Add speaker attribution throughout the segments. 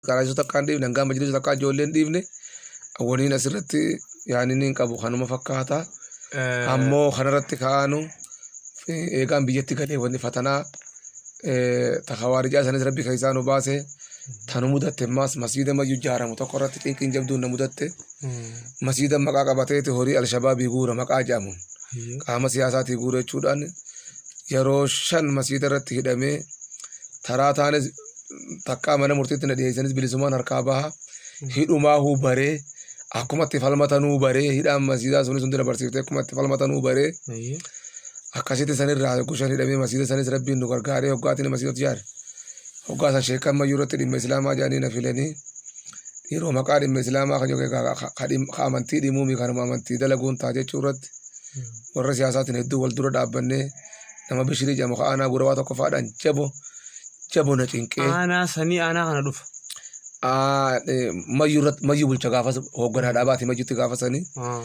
Speaker 1: Qaraasuu takkaa hin dhiifne hangaa majliisa takkaa ijoollee hin dhiifne waliin asirratti yaanni hin qabu kanuma fakkaata. Ammoo kanarratti ka'aanu eegaan biyyatti galee wanni fatanaa takawaarijaa isaaniis rabbi keessaa nu baase tanu mudatte ammaas masiida mayyu ijaaramu tokko irratti xinqiin jabduun na mudatte masiida maqaa qabateeti horii alshabaabii guura maqaa jedhamuun qaama siyaasaatii guura jechuudhaan yeroo shan masiida irratti hidhamee taraa taanis takkaa mana murtiitti na dhiyeessanis bilisumaan harkaa baha hidhumaa huu baree akkuma itti falmatanuu baree hidhaan masiidaa sunis hundi na barsiifte akkuma itti falmatanuu baree Ayyee. akkasitti sanirraa gushan hidhamee masiida sanis rabbiin nu gargaaree hoggaatiin masiidatti yaade hoggaa san sheekan mayyuu irratti dhimma islaamaa jedhanii na filanii dhiiroo maqaa dhimma islaamaa kan yookiin ka- ka- ka dhim- ka amantii dhimuumi kanuma amantii dalaguun taa jechuu irratti warra siyaasaatiin hedduu wal dura dhaabbannee nama bishirii jedhamu ka aanaa gurawaa tokkoffaadhaan jabo jabo na cinqee Aanaa sanii aanaa
Speaker 2: kana dhufa. aa, eh, mayyuu
Speaker 1: irratti- mayyuu bulcha gaafas hoogganaa dhaabaati mayyuutti gaafasanii Ah.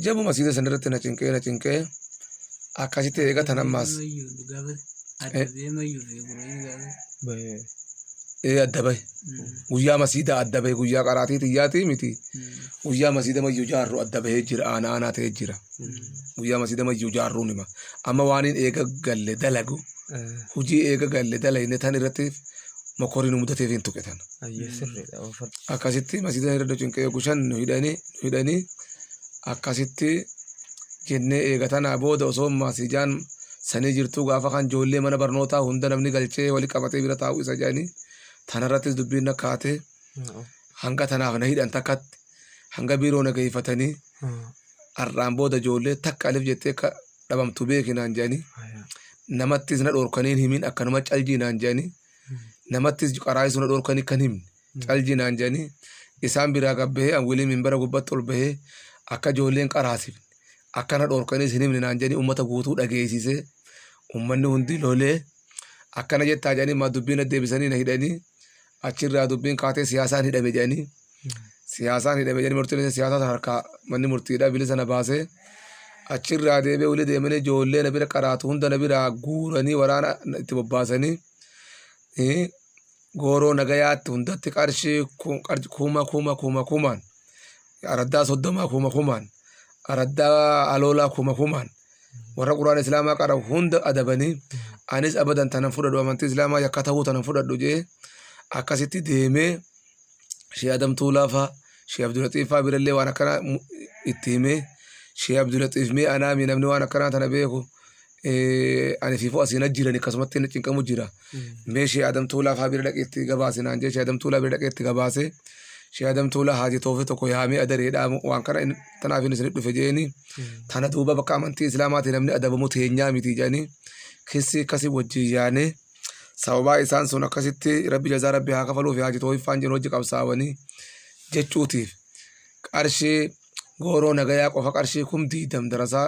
Speaker 1: jabo masiida san irratti na cinqee na cinqee akkasitti eegatan ammaas Bahee. ee adda bahe guyyaa masiida adda bahe guyyaa qaraatii xiyyaatii miti guyyaa masiida mayyuu jaarru adda bahee jira aanaa aanaa ta'ee jira guyyaa masiida mayyuu jaarruun hima amma waaniin eega galle dalagu hujii eega galle dalayne tan irratti mokorii nu mudateef hin tuqe tan Ayyee sirriidha. Oofadhu. akkasitti masiidan irra nu cinqee yogu shan nu hidhanii nu hidhanii akkasitti jennee eega tanaa booda osoo masiijaan sanii jirtuu gaafa kan joollee mana barnootaa hunda namni galchee wali qabatee bira taa'uu isa jedhanii tanarrattis dubbiin na kaatee hanga tanaaf na hidhan takkatti hanga biiroo na geeffatanii har'aan booda ijoollee takka alif jettee akka dhabamtu beeki naan jedhanii namattis na dhorkanii hin himin akkanuma caljii naan jedhanii namattis qaraayisuu na dhorkanii kan himne caljii naan jedhanii isaan biraa gabbahee an wiliin minbara gubbatti ol bahee akka ijoolleen qaraasifne akka na dhorkaniis hin himne naan jedhanii uummata guutuu dhageessisee uummanni hundi lolee akkana jettaa jedhanii maa dubbii na deebisanii na hidhanii achirraa dubbiin kaatee siyaasaan hidhame jedhanii siyaasaan hidhame jedhanii murtiin siyaasaa harkaa manni murtiidhaa bilisa na baasee achirraa deebee wali deemanii ijoollee na bira qaraatu hunda na biraa guuranii waraana itti bobbaasanii gooroo nagayaatti hundatti qarshii kuma kuma kuma kumaan araddaa soddomaa kuma kumaan araddaa aloolaa kuma kumaan warra quraan islaamaa qara hunda adabanii anis abadan tanan fudhadhu amantii islaamaa yakka ta'uu tanan fudhadhu jee akkasitti deemee shee adamtuu laafaa shee abdulaxiifaa birallee waan akkana itti himee shee abdulaxiif mee anaami namni waan akkanaa tana beeku ani siifuu asiin ajjiran akkasumatti inni cinqamu jira. Mee Shee Adam Tuulaa faa bira dhaqeetti gabaase naan jee Shee Adam Tuulaa bira dhaqeetti gabaase. Shee Adam Tuulaa haaji toofi tokko yaamee adareedhaa waan kana in- tanaaf inni isinit dhufe jeeni. Tana duuba bakka amantii islaamaatiin namni adabamu teenyaa miti jedhanii keessi akkasii wajjin yaanee sababaa isaan sun akkasitti rabbi jazaa rabbi haa kafaluuf haaji toofiffaan jiru hojii qabsaawanii jechuutiif qarshii gooroo nagayaa qofa qarshii kum diidam darasaa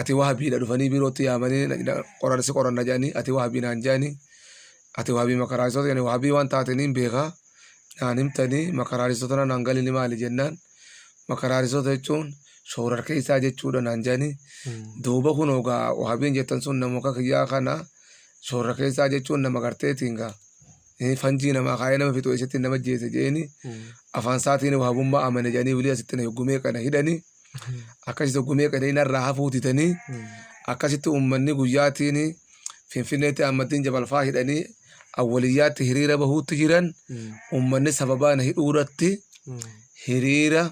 Speaker 1: ati wahabiidha dhufanii biirootti yaamanii na- na- qoran si qoranna jedhanii ati wahabii naan jedhanii ati wahabii makaraaristoota jedhanii wahabii waan taataniin beekaa naan himtanii makaraaristoota na naan galini maali jennaan makaraaristoota jechuun shoorar keessaa jechuudha naan jedhanii duuba kun ogaa wahabiin jettan sun nama akka kiyyaa kana shoorar keessaa jechuun nama garteetiin gaa Eh, fanjii namaa kaayee nama fixu eessatti nama jeese jeeni afaan isaatiin wahabummaa amane jedhanii wilii asitti na yoggumee kana hidhanii akkasitti gumee qereena irraa hafuu didanii akkasitti uummanni guyyaatiin finfinneetti Ahmaddiin Jabalfaa hidhanii awwaliyyaatti hiriira bahuutti jiran uummanni sababaa na hidhuu irratti hiriira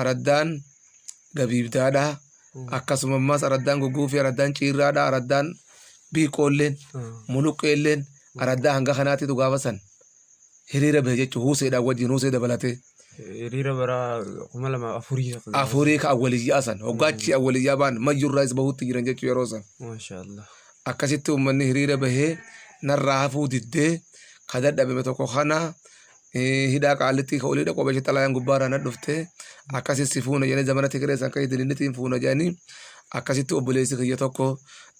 Speaker 1: araddaan gabiibdaadha akkasuma ammas araddaan gugguufii araddaan ciirraadha araddaan biiqoolleen muluqqeelleen araddaa hanga kanaatitu gaafasan hiriira bahe jechuun Huseedhaan wajjin Husee dabalatee Hiriira bara
Speaker 2: kuma lama afurii. afurii ka
Speaker 1: awwaliyyaa san hoggaachi awwaliyyaa baan mayyurraayis bahuutti jiran jechuu yeroo san. Maashaa Allah.
Speaker 2: akkasitti
Speaker 1: uummanni hiriira bahee narraa hafuu diddee ka dadhabame tokko kana eh, hidhaa qaallittii ka olii dhaqoo beekte xalayaan gubbaarraa na dhufte akkasi si fuuna jedhanii zamana tigiree san kan idilinitiin fuuna jedhanii akkasitti obboleessi kiyya tokko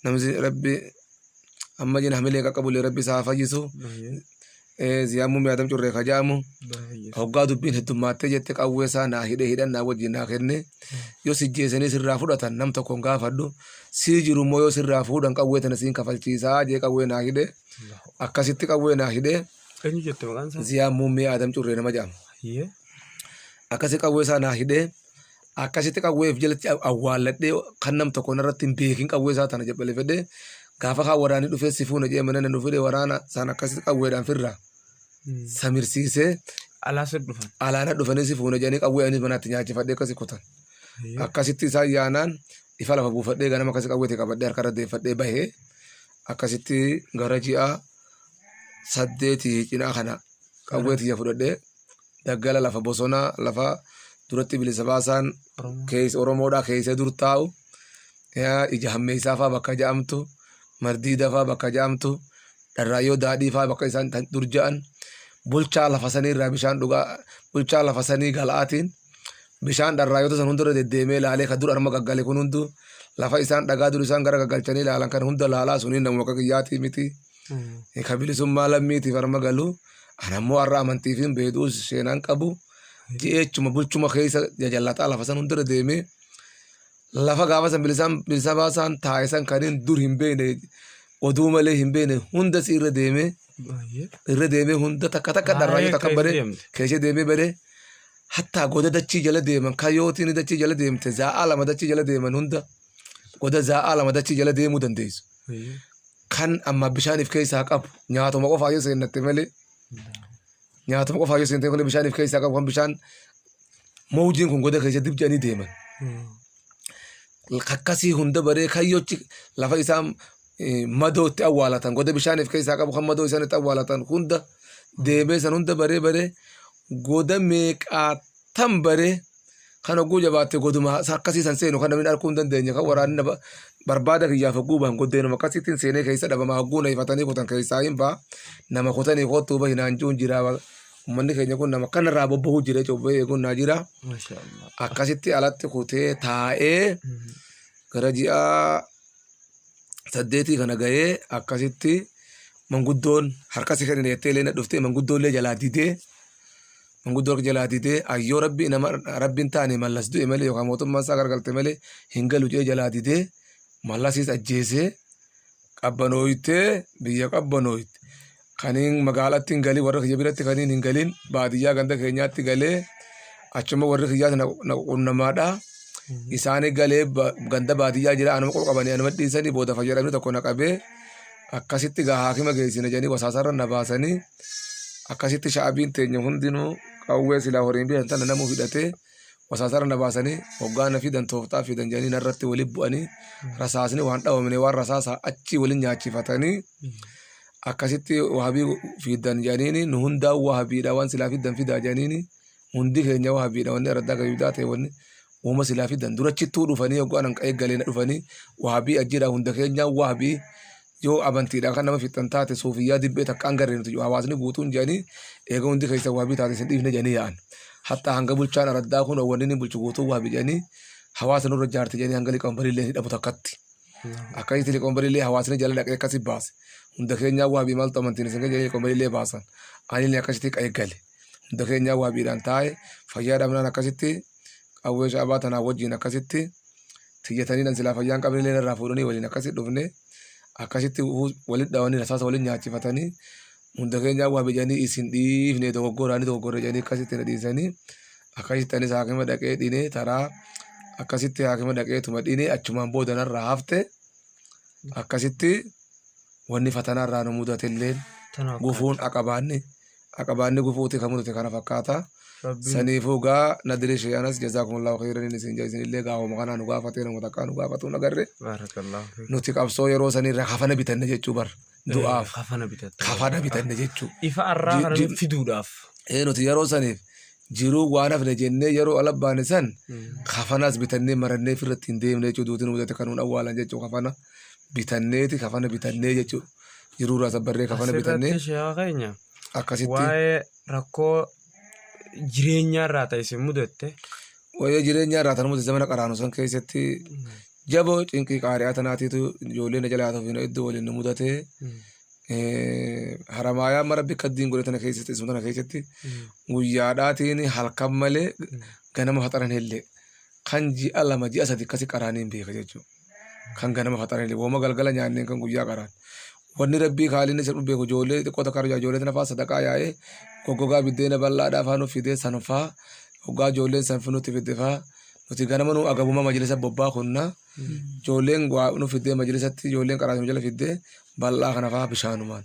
Speaker 1: namni rabbi amma jina hamilee qaqqabulee rabbi isaa haa fayyisu ziyaammuu mi'aadam curree ka ja'amu hoggaa dubbiin heddummaattee jette qawwee isaa naa hidhee hidhan naa wajjin naa kenne yoo sijjeesanii sirraa fudhatan nam tokkoon gaafadhu sii jiru immoo yoo sirraa fuudhan qawwee tana siin kafalchiisaa jee qawwee naa hidhe akkasitti qawwee naa hidhe Eenyu jette maqaan
Speaker 2: isaa? ziyaammuu mi'aadam curree
Speaker 1: nama ja'amu Hayyee. akkasi qawwee isaa naa hidhee akkasitti qawwee of jalatti awwaalladhee kan nam tokko narratti hin beekin qawwee isaa tana jabbalifadhee gaafa kaan waraanni dhufee si fuuna jedhee mana nu fide waraana sana akkasitti qawweedhaan firra samirsiisee Alaa sir dhufan. alaana dhufanii si fuuna jedhanii qawwee anis manaatti nyaachifadhee akkasi kutan. Akkasitti isaan yaanaan ifa lafa buufadhee ganama akkasi qawweetti qabadhee harkarra deeffadhee bahee akkasitti gara ji'a saddeetii cinaa kana qawweetti ija fudhadhee daggala lafa bosonaa lafa duratti bilisa baasaan keessa Oromoodhaa keessa dur taa'u ija hammeessaa fa'aa bakka ja'amtu mardiida fa'aa bakka ja'amtu dharraayyoo daadhii fa'aa bakka isaan dur ja'an bulchaa lafa sanii irraa bishaan dhugaa bulchaa lafa sanii galaatiin bishaan dharraayyota san hundarra deddeemee laalee kan dur arma gaggale kun hunduu lafa isaan dhagaa dur isaan gara gaggalchanii laalan kan hunda laalaa suniin namuma akka kiyyaatii miti. Ka bilisummaa lammiitiif harma galu. Ana immoo har'a amantii fi beekuu seenaan qabu. Jeechuma bulchuma keessa jajallataa lafa san hundarra deemee lafa gaafa san bilisaan bilisa baasaan taa'e san kan hin dur hin beekne oduu malee hin beekne hunda si irra deemee irra deemee hunda takka takka dharraayuu takka bare keessa deemee bare hatta goda dachii jala deeman kayyootiin dachii jala deemte zaa'aa lama dachii jala deeman hunda goda zaa'aa lama dachii jala deemuu dandeessu. kan amma bishaan if keessaa qabu nyaatuma qofaa yoo seennatte malee nyaatuma qofaa yoo seente malee bishaan if keessaa qabu kan bishaan mawjiin kun goda keessa dib jedhanii deeman. Kakkasii hunda baree kayyochi lafa isaan eh, madoo itti awwaalatan goda bishaan if keessaa qabu kan madoo isaan itti awwaalatan hunda deemee san hunda baree baree goda meeqaa tan bare kan hogguu jabaatte goduma akkasii san seenu kan namni arguu hin dandeenye kan waraanni na barbaada kiyyaaf hogguu bahan goddeenuma akkasiitiin seenee keessa dhabama hogguu na ifatanii kutan keessaa hin ba'a nama kutanii kottuu bahi naan jiruun jira ummanni keenya kun nama kanarraa bobbahuu jira jechuudha eeguun naa jira akkasitti alatti kutee taa'ee gara ji'a saddeetii kana ga'ee akkasitti manguddoon harkasi kennin jettee illee na dhuftee manguddoon illee jalaa didee Manguddoo harka jalaa didee ayyoo rabbi nama rabbi hin taane mallas du'e malee yookaan mootummaan isaa gargalte malee hin galu jedhee jalaa didee mallasis ajjeesee qabbanooytee biyya qabbanooyte kaniin magaalatti hin galin warra kiyya biratti kaniin hin galin baadiyyaa ganda keenyaatti galee achuma warri kiyyaas na qunnamaadha. Isaanii galee ba- ganda baadiyyaa jira anuma qofa qabanii anuma dhiisanii booda fayyadamni tokko na qabee akkasitti gaa haakima geessina jedhanii wasaasarra na baasanii. akkasitti sha'abiin teenya hundinuu qawwee silaa horiin bitan tana namuu hidhatee wasaasara na baasanii hoggaa na fidan tooftaa fidan jedhanii narratti waliin bu'anii rasaasni waan dhawamne waan rasaasaa achi waliin nyaachifatanii akkasitti wahabii fidan jedhaniini nu hundaa wahabiidha waan silaa fidan fidaa jedhaniini hundi keenya wahabiidha wanni araddaa gabiidaa ta'e wanni uuma silaa fidan durachittuu dhufanii hoggaa nan qa'ee galee na dhufanii wahabii ajjiidha hunda keenya wahabii Yoo amantiidhaan kan nama fixxan taate suufiyyaa dibbee takkaan garree nuti hawaasni guutuun jedhanii eega hundi keessan waabii taate isin dhiifne jedhanii yaa'an. Hattaa hanga bulchaan araddaa kun wanni inni bulchu guutuu waabii jedhanii hawaasa nurra jaarti jedhanii hanga liqoonbariillee hidhamu takkatti. Akkasitti liqoonbariillee hawaasni jala dhaqee akkasi baase. Hunda keenyaa waabii maaltu amantiin isin jedhanii liqoonbariillee baasan. Anillee akkasitti qa'ee gale. hunda keenyaa waabiidhaan taa'e fayyaa dhabnaan akkasitti qawwee sha'abaa tanaa wajjin akkasitti tiyyataniidhaan silaa fayyaan qabnillee irraa fuudhanii waliin akkasitti dhufne akkasitti walitti dhawanii rasaasa waliin nyaachifatanii hunda keenyaa waabii jedhanii isin dhiifne dogoggoraanii dogoggorre jedhanii akkasitti na dhiisanii akkasitti anis haakima dhaqee dhine taraa akkasitti haakima dhaqee tuma dhine achumaan booda narraa hafte akkasitti wanni fatanaa irraa nu mudatelleen gufuun aqabaanni aqabaanni gufuuti kan mudate kana fakkaata. Rabbiin Saniifuu gaa nadiri shee anas jazaakumullahu khayraniin isin jaa isinillee gaa hooma kanaa nu gaafatee nama takkaa nu gaafatuu nagarre. baarakallahu fiik. Nuti qabsoo yeroo sanirra kafana bitanne jechuu bar du'aaf Kafana bitatta. kafana bitanne jechuu. Ifa arraa Ji- kana ji-
Speaker 2: fiduudhaaf. Ee nuti yeroo
Speaker 1: saniif jiruu waan hafne jennee yeroo ala baane san kafanas bitannee marannee firratti hin deemne jechuu duuti nu mudate kan nuun awwaalan jechuu kafana. bitanneeti kafana bitannee jechuudha. Jiruu irraa sabbarree kafana bitannee Asirratti sheekaa keenya akkasitti waa'ee
Speaker 2: rakkoo jireenyaa irraa ta'e isin mudatte waa'ee jireenyaa
Speaker 1: irraa tanuma zamana qaraanu san keessatti jaboo cinqii qaari'aa tanaatiitu ijoollee na jalaa tufiina iddoo waliin nu mudate haramaayaa mara bikka diin godhe tana keessatti isuma tana keessatti guyyaadhaatiin halkan malee ganama faxaran illee kan ji'a lama ji'a sadi akkasi qaraaniin beeka jechuudha. kan ganama faxanillee woma galgala nyaanneen kan guyyaa qaraan wanni rabbii kaalinni isa dhubbeeku ijoollee xiqqoo takka argaa ijoollee tana fa'aa sadaqaa yaa'ee goggogaa biddeena bal'aadhaa fa'aa nuuf fidee san fa'aa hoggaa ijoolleen san nutti fidde fa'aa nuti ganama nu agabuma majlisa bobbaa kunna ijoolleen waa nu fiddee majlisatti ijoolleen qaraasuma jala fiddee bal'aa kana fa'aa bishaanumaan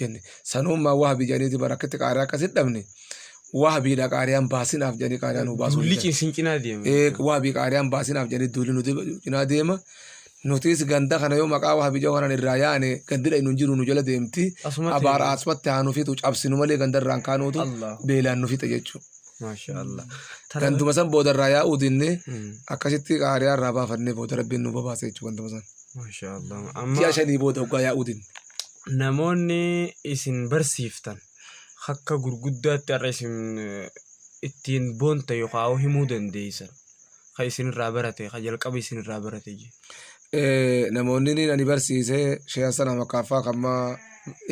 Speaker 1: jenne sanuummaa wahabii jedhaniiti bara akkatti qaariyaa akkasitti dhabne wahabiidha qaariyaan baasinaaf jedhanii qaariyaa nu baasuu Duulli didan. isin cinaa deema.
Speaker 2: Ee, wahabii qaariyaan
Speaker 1: baasinaaf jedhanii duulli nuti cinaa deema nutis ganda kana yoo maqaa wahabii jedhu kanaan irraa yaane gandidha inni hin jiru nu jala deemti Asumatti abaara deema. asumatti haa nu fixu cabsinu malee gandarraan kaanuutu Allah. beelaan nu fixa jechuudha. Maasha Allah.
Speaker 2: Ganduma san
Speaker 1: booda irraa yaa'uu dinne Mm. akkasitti qaariyaa irraa baafannee booda rabbiin nu babaase jechuudha ganduma san. Maasha Allah. Amma
Speaker 2: Ji'a shanii booda
Speaker 1: hoggaa yaa'uu dinne. namoonni
Speaker 2: isin barsiiftan akka gurguddaatti har'a isin ittiin boonta yookaan himuu dandeessan kan isinirraa barate kan jalqaba isinirraa barate jee. namoonni
Speaker 1: ni ani barsiise sheehan sana makaaffaa kan maa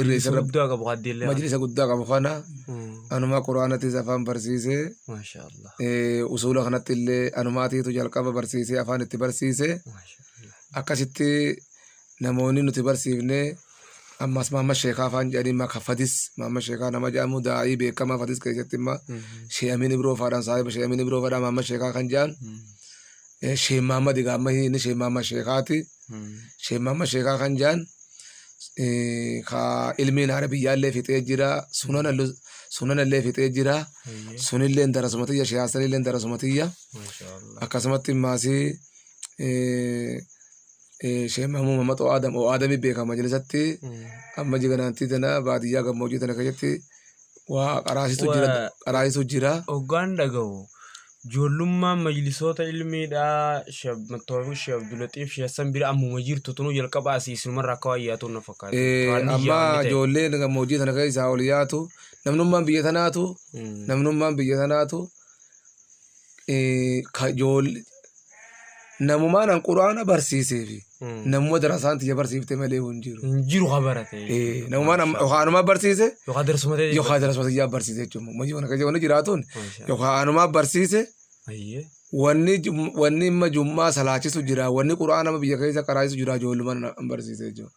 Speaker 1: irreessa irra guddaa qabu haddeellee
Speaker 2: majlisa guddaa qabu kana
Speaker 1: anumaa quraanatis afaan barsiise maashaa allah
Speaker 2: eh, usuula
Speaker 1: kanatti illee anumaatiitu jalqaba barsiise afaan itti barsiise maashaa allah akkasitti namooni nuti barsiifne ammas Mahammad Sheekaa faan jedhanii maka Fadis Mahammad Sheekaa nama jedhamu daa'ii beekamaa Fadis keessatti imma Shee Amiin Ibroo faadhaan saahiba Shee Amiin Ibroo faadhaan Mahammad Sheekaa kan jedhan Eh, Shee Mahammad egaa amma inni Shee Mahammad Sheekaati Shee Mahammad Sheekaa kan jedhan eh, ka ilmiin haara biyyaallee fixee jira sunan allu- sunan illee fixee jira sunillee darasuma tiyya Shee Hasanillee darasuma tiyya akkasumatti maasii eh, Sheekh Mahmuu Mamaxoo Aadam oo Aadamii beekama majlisatti amma jiganaantii tana baadiyyaa gammoojjii tana keessatti waa qaraasitu jira Waa- qaraasitu jira. Hoggaan dhagahu
Speaker 2: ijoollummaan majlisoota ilmiidhaa Sheekh Mattoofiq Sheekh Abdulaxiif Sheekh Hassan bira ammuma jirtu tunuu jalqaba asii isinumarraa akka waan yaatuun na fakkaata. Eh, Waan biyyaa Amma wanni ta'e.
Speaker 1: ijoolleen gammoojjii tana keessaa ol yaatu namnummaan biyya tanaatu Mm. namnummaan biyya tanaatu eh, ka ijoollee namumaa nan quraana barsiisee fi Mm. namuma darasaan tiyya barsiifte malee hin jiru. hin jiru ka barate
Speaker 2: Eh, namumaa nam- yookaan
Speaker 1: anumaa barsiise yookaan darsuma ta'e yookaan
Speaker 2: darasuma tiyyaa
Speaker 1: barsiise jechuudha. Hojii kana keessa wanni jiraatuun yookaan anumaa barsiise ayyee wanni jum- wanni imma jummaa salaachisu jira wanni quraana biyya keessa qaraachisu jira ijoollumaan hin barsiise jechuudha.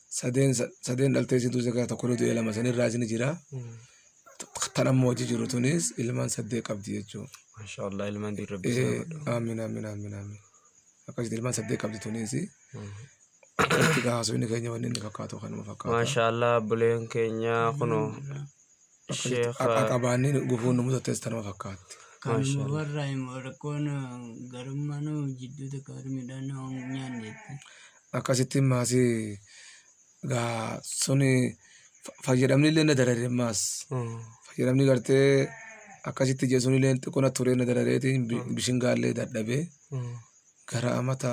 Speaker 1: sadeen sa- sadeen dhaltee isin duusa keessaa tokko ni du'e lama san irraa isin jira tan amma hojii jiru tunis ilmaan saddeet qabdi jechuudha. Masha Allah ilmaan diin
Speaker 2: rabbi isaa godhu. Aamin aamin aamin
Speaker 1: aamin akkasitti ilmaan saddeet qabdi tunis akkasitti gaa haasofni keenya wanni inni fakkaatu kanuma fakkaata. Masha Allah buleen
Speaker 2: keenya kunoo Sheekha. Aqabaanni
Speaker 1: gufuun nu mudates tanuma fakkaatti. Kan Mashallah. warraa
Speaker 3: immoo rakkoon garummaa nu jidduu takka warri midhaan nu nyaanneetti. Akkasitti
Speaker 1: maasi gaa suni fa- fayyadamni illee na darare maas. Mm. Fayyadamni gartee akkasitti jechuun illee xiqqoona turee na darareeti bi- bishingaallee dadhabee Mm. gara amata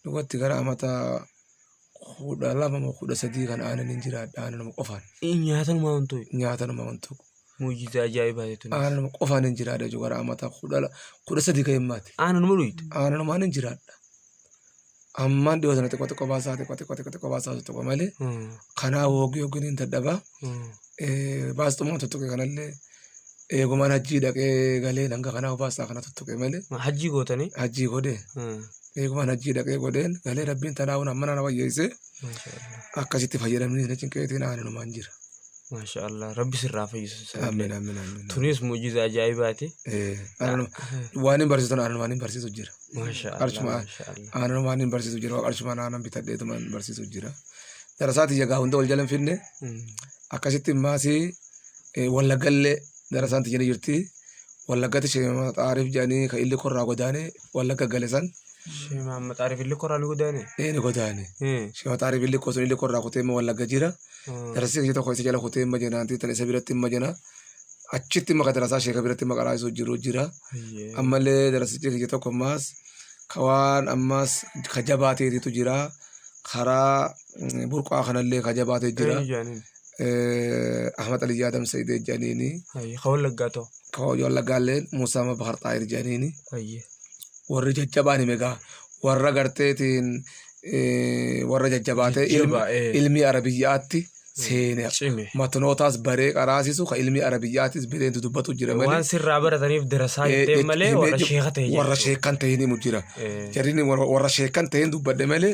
Speaker 1: dhugatti gara amata kudha lama moo kudha sadii kan aanan hin jiraadha aananuma qofaan Nyaatanuma wantoy.
Speaker 2: nyaatanuma wantu
Speaker 1: Muujjiza ajaa'ibaa
Speaker 2: jechuun. aananuma qofaan hin jiraadha
Speaker 1: jechuudha gara amata kudha la- kudha sadii kan himmaati Aananuma dhuyte. aananumaan
Speaker 2: hin jiraadha
Speaker 1: ammaan dhiyoo sana xiqqoo xiqqoo baasaa xiqqoo xiqqoo xiqqoo xiqqoo baasaa tokko malee kanaa hoogii hoogii hin dadhabaa baasxumaan tuttuqe kanallee Eegumaan hajjii dhaqee galee hanga kanaa obaasaa kana tuttuqe malee. Hajjii gootanii?
Speaker 2: Hajjii godhee.
Speaker 1: Eegumaan hajjii dhaqee godheen galee rabbiin tanaa'uun amma nana wayyeessee akkasitti fayyadamni na cinqeetiin aananumaan jira. Maasha Allah
Speaker 2: rabbi sirraa fayyisa. Amiin amiin amiin.
Speaker 1: Tunis mujiza
Speaker 2: ajaa'ibaati.
Speaker 1: Waan hin barsiisan aananumaan hin barsiisu jira. Maasha Allah. Qarshuma maasha
Speaker 2: Allah. aananumaan
Speaker 1: hin barsiisu jira qarshumaan aanan bitadheetumaan barsiisu jira. Darasaati jagaa hunda wal jala hin finne akkasitti maasii Eh, Wallaggallee gara isaanti jedhee jirti. Wallaggatti sheema xaariif jedhanii kan illi korraa godaane wallagga gale san Shema maxaariif
Speaker 2: illee koraan godaane. eh, ni godaane. Eh.
Speaker 1: Sheema xaariif illi koo sun illi korraa kutee immoo wallagga jira. Hmm. Darasii kiyya tokko isa jala kutee hin majanaanti tan isa biratti hin majana. Achitti maka darasaa sheeka biratti maka raayisuu jiru jira. Ayyee. Ammallee darasichi kiyya tokko ammaas ka waan ammaas ka jabaateetitu jira. Karaa mm, burqaa kanallee ka jabaatee jira. Eenyu jedhaniin? eh, Ahmad Ali Jaadam Sayyid jedhaniini Ayyi. Ka wallaggaa ta'u.
Speaker 2: ka wallaggaalleen
Speaker 1: Muusaa Mabahar Xaayir jedhaniini Ayyi. warri jajjabaan himegaa warra garteetiin eh, warra jajjabaa ta'e ilmi- Jajjabaa, eh. ilmii arabiyyaatti seene Cime. matanootaas baree qaraasisu ka ilmii arabiyyaattis bireentu dubbatu jira malee Waan sirraa barataniif
Speaker 2: dirasaa Eh, jettee jech- malee himee warra jech- sheeka ta'e warra jechuudha.
Speaker 1: sheekan ta'e himu jira Eh. jarrini warra warra sheekan ta'een dubbadhe malee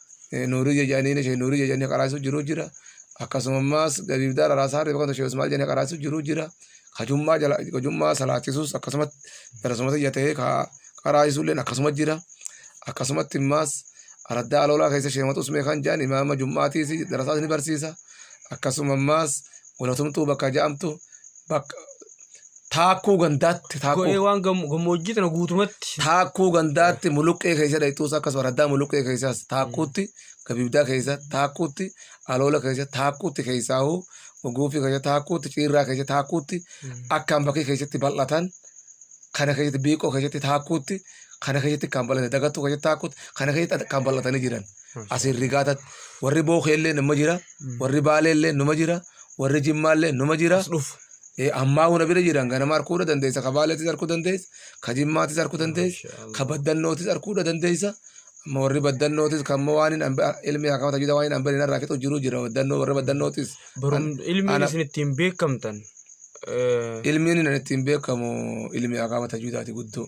Speaker 1: nuurii jedhanii ishee nuurii jedhanii qaraasu jiru jira. Akkasuma ammaas gabiif daara raasaa reefa kan ishee Usmaal jedhanii qaraasu jiru jira. Kajummaa jala kajummaa salaachisus akkasumatti darasumatti ija ta'ee ka qaraasu illee akkasuma jira. Akkasumatti ammaas araddaa aloolaa keessa sheematu usmee kan jedhan imaama jummaatiis darasaas ni barsiisa. Akkasuma ammaas walatumtuu bakka ja'amtu bakka Taakkuu gandaatti taakkuu. Go'ee waan gammoojjii
Speaker 2: tana guutumatti. Taakkuu gandaatti
Speaker 1: muluqqee keessa dhayxuus akkasuma raddaa muluqqee keessaas taakkuutti gabiibdaa keessa taakkuutti aloola keessa taakkuutti keessaahu guufii keessa taakkuutti ciirraa keessa taakkuutti akkaan bakkee keessatti bal'atan kana keessatti biiqoo keessatti taakkuutti kana keessatti kan bal'atan dagattuu keessatti taakkuutti kana keessatti kan bal'atanii jiran asiin rigaatatti warri bookee illee nama jira warri baalee illee nama jira warri jimmaa illee nama jira. As dhufu. Ammaa huna bira jiran ganama arguu dandeessa, ka Baaleetis arguu dandeessa, ka Jimmaatis arguu dandeessa, ka Baddannootis arguu dandeessa. Amma warri Baddannootis kan immoo waan ilmi akkama tajaajila waan hin hambeen irraa fixu jiru jira. Baddannoo warri Baddannootis. Ilmiin isin
Speaker 2: ittiin beekamtan.
Speaker 1: Ilmiin inni ittiin beekamu ilmi akkama tajaajilati guddoo.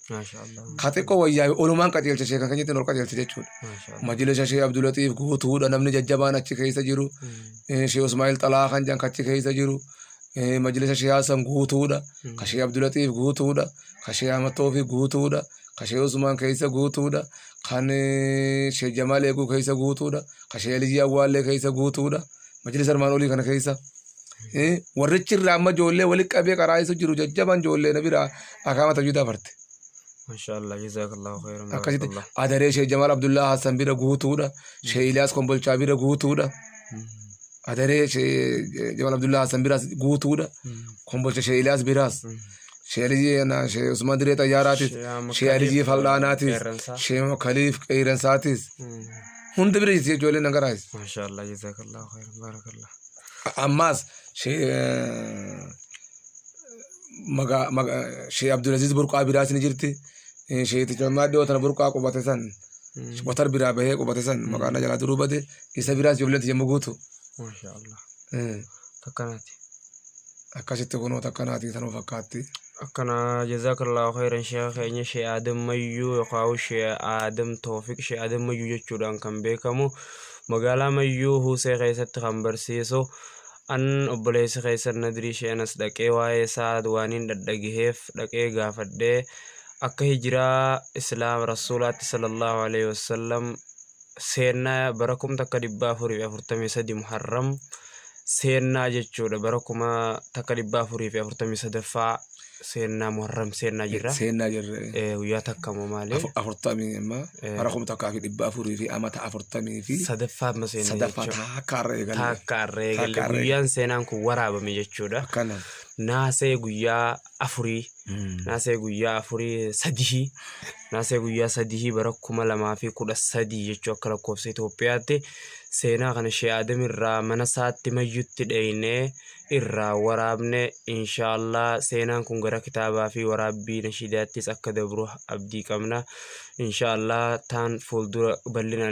Speaker 1: Ka xiqqoo wayyaa'e olumaan qajeelcha sheekan keenyatti ol qajeelcha jechuudha. Majlisa Shee Abdulatiif guutuudha namni jajjabaan achi keessa jiru. Shee Usmaa'il Xalaa kan jedhan achi keessa jiru. Majlisa Shee Hasan guutuudha. Ka Shee Abdulatiif guutuudha. Ka Shee Ahmad Toofiq guutuudha. Ka Shee Usmaan keessa guutuudha. Kan Shee Jamaal Eeguu keessa guutuudha. Ka Shee Aliyyii Awwaallee keessa guutuudha. Majlisa armaan olii kana keessa eh, warrichi irraa amma ijoollee walitti qabee qaraa'isu jiru jajjaban ijoollee na biraa akaama tajwiidaa farte. Mashaallah
Speaker 2: jazakallahu khairan Akkasitti barakallah. adaree
Speaker 1: Sheek Jamaal Abdullaa Hassan bira guutuudha. Sheek Iliyaas Kombolchaa bira guutuudha. Adaree Sheek Jamaal Abdullaa Hassan biraas guutuudha. Kombolcha Sheek Iliyaas biraas. Sheelijii Heenaa, Shee Usman Diree Xayyaaraatis, Shee Ahmad Shee Alijii Kaliif, Fal'aanaatis, Qeerransaa. Shee Mo Kaliif Qeeyransaatis. Hunda bira jirti ijoolleen na garaas. Maashaallah jazakallahu
Speaker 2: khairan barakallah. Ammaas
Speaker 1: Shee maga- maga- Shee Abdulaziz Burqaa biraas ni jirti. Shee Ticammaa dhiyoo tana Burqaa qubate san. Watar biraa bahee qubate san maqaan na jalaa duruu bade isa biraas ijoolleen tiyya muguutu. Maashaallah.
Speaker 2: Takkanati.
Speaker 1: akkasitti kunoo takka naatii tanuu fakkaatti. akkana
Speaker 2: jazaakallaahu khayran sheekha keenya shee aadam mayyuu yookaan shee aadam toofiq shee aadam mayyuu jechuudhaan kan beekamu magaalaa mayyuu huusee keessatti kan barsiisu an obboleessi keessan nadrii shee anas dhaqee waa'ee isaa waaniin dhadhageheef dhaqee gaafadhee akka hijiraa islaam rasuulaatti sallallahu alaihi wasallam seennaa bara kum takka dhibbaa afurii fi afurtamii sadii muharram seennaa jechuudha bara kuma takka dhibbaa afurii fi afurtamii sadaffaa seennaa muharram seennaa jirra Seennaa jirre. Eh, guyyaa takka moo maali Afu- Afurtamii amma
Speaker 1: bara kuma takkaa fi dhibba afurii fi amata afurtamii fi sadaffaa amma seennaa sadaffaa
Speaker 2: jechuudha takka irra
Speaker 1: eegalle. takka arree Takka galle arree. guyyaan seenaan kun
Speaker 2: waraabame jechuudha Akkana. naasee guyyaa afurii naasee guyyaa afurii sadihii naasee guyyaa sadihii bara kuma lamaa fi kudha sadii jechuu akka lakkoofsa Itoophiyaatti seenaa kana shee Aadam irraa mana isaatti mayyutti dheeynee irraa waraabne inshaallah seenaan kun gara kitaabaa fi waraabbii nashiidaattis akka dabru abdii qabna inshaallah taan fuuldura bal'inaan